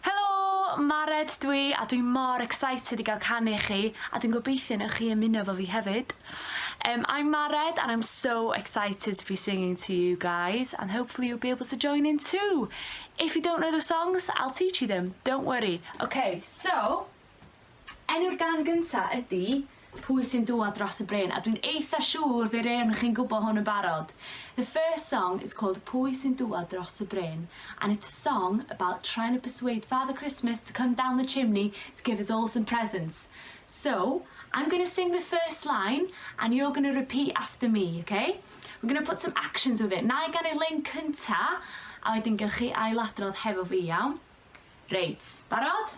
Helo! Mared dwi a dwi mor excited i gael canu i chi a dwi'n gobeithio newch chi ymuno efo fi hefyd. Erm I'm Mared and I'm so excited to be singing to you guys and hopefully you'll be able to join in too! If you don't know the songs, I'll teach you them, don't worry. Ok, so, Enw'r gan gynta ydi Pwy Sy'n Dŵad Dros Y Bryn a dwi'n eitha siŵr fe rewn chi'n gwbo hwn yn barod. The first song is called Pwy Sy'n Dŵad Dros Y Bryn and it's a song about trying to persuade Father Christmas to come down the chimney to give us all some presents. So, I'm going to sing the first line and you're going to repeat after me, ok? We're going to put some actions with it. Nai ganu'r lein cynta a wedyn gewch chi ailadrodd hefo fi, iawn? Reit, barod?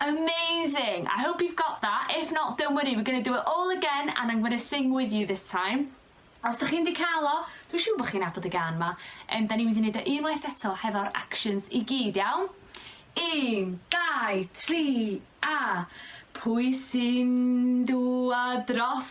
Amazing! I hope you've got that, if not don't worry, we're going to do it all again and I'm going to sing with you this time. Os dych chi'n di cael o, dwi'n siŵr bod chi'n nabod y gan ma. Um, da ni'n mynd i wneud o unwaith eto hefo'r actions i gyd, iawn? Un, dau, tri, a... Pwy sy'n dŵa dros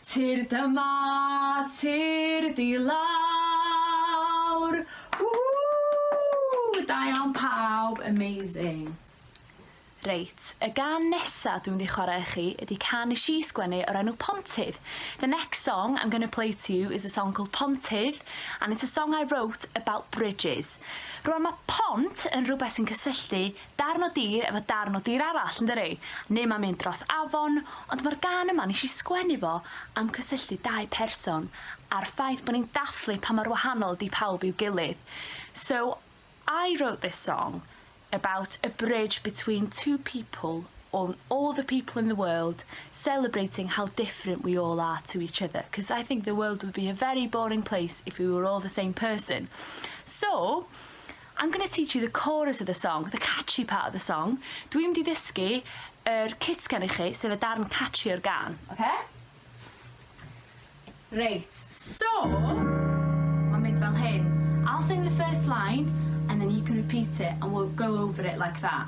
Tir dyma tir di lawr. Whoo! Da iawn pawb, amazing. Reit, y gan nesa dwi'n mynd i chwarae i chi ydi can nes i sgwennu o'r enw Pontydd. The next song I'm gonna play to you is a song called Pontydd and it's a song I wrote about bridges. Rwan mae pont yn rhywbeth sy'n cysylltu Darn o dir efo darn o dir arall yndydi? Neu mae'n mynd dros afon, ond mae'r gân yma, nes i sgwennu fo am cysylltu dau person a'r ffaith bod ni'n dathlu pa mor wahanol ydi pawb i'w gilydd. So I wrote this song about a bridge between two people or all the people in the world celebrating how different we all are to each other because I think the world would be a very boring place if we were all the same person. So I'm gonna teach you the chorus of the song, the catchy part of the song. Dwi'n mynd i ddysgu yr cutgan i chi, sef y darn catchy o'r gân, oce? Reit, so, ma'n mynd fel hyn. I'll sing the first line and then you can repeat it and we'll go over it like that.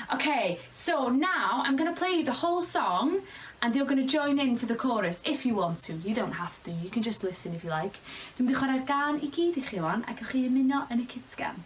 Ok, so now I'm gonna play you the whole song and you're gonna join in for the chorus, if you want to, you don't have to, you can just listen if you like. Dwi'n mynd i chwarae'r gân i gyd i chi wan a gewch chi ymuno yn y cutgan.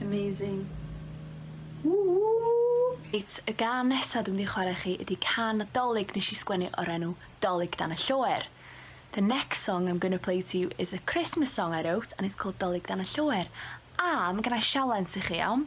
Amazing. Reit, y gan nesa dwi'n mynd i chwarae chi ydy can Dolig nes i sgwennu o'r enw Dolig dan y Lloer. The next song I'm gonna play to you is a Christmas song I wrote and it's called Dolig dan y Lloer. A ma' gennai sialens i chi, iawn?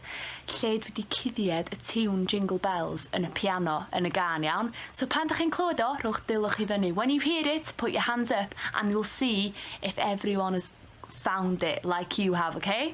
lle dwi 'di cuddied y tiwn Jingle Bells yn y piano yn y gân, iawn? So pan 'dach chi'n clywed o, rhowch dulwch i fyny. When you hear it, put your hands up and you'll see if everyone has found it like you have, okay?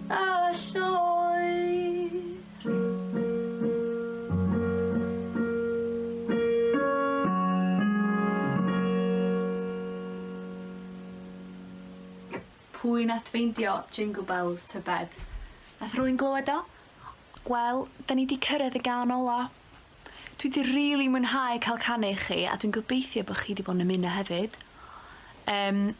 a lloer. Pwy nath feindio Jingle Bells tybed? Nath rhywun glywed o? Wel, 'dan ni 'di cyrraedd y gân ola. Dwi 'di rili mwynhau ca'l canu i chi a dwi'n gobeithio bo' chi 'di bo' yn ymuno hefyd. Yym.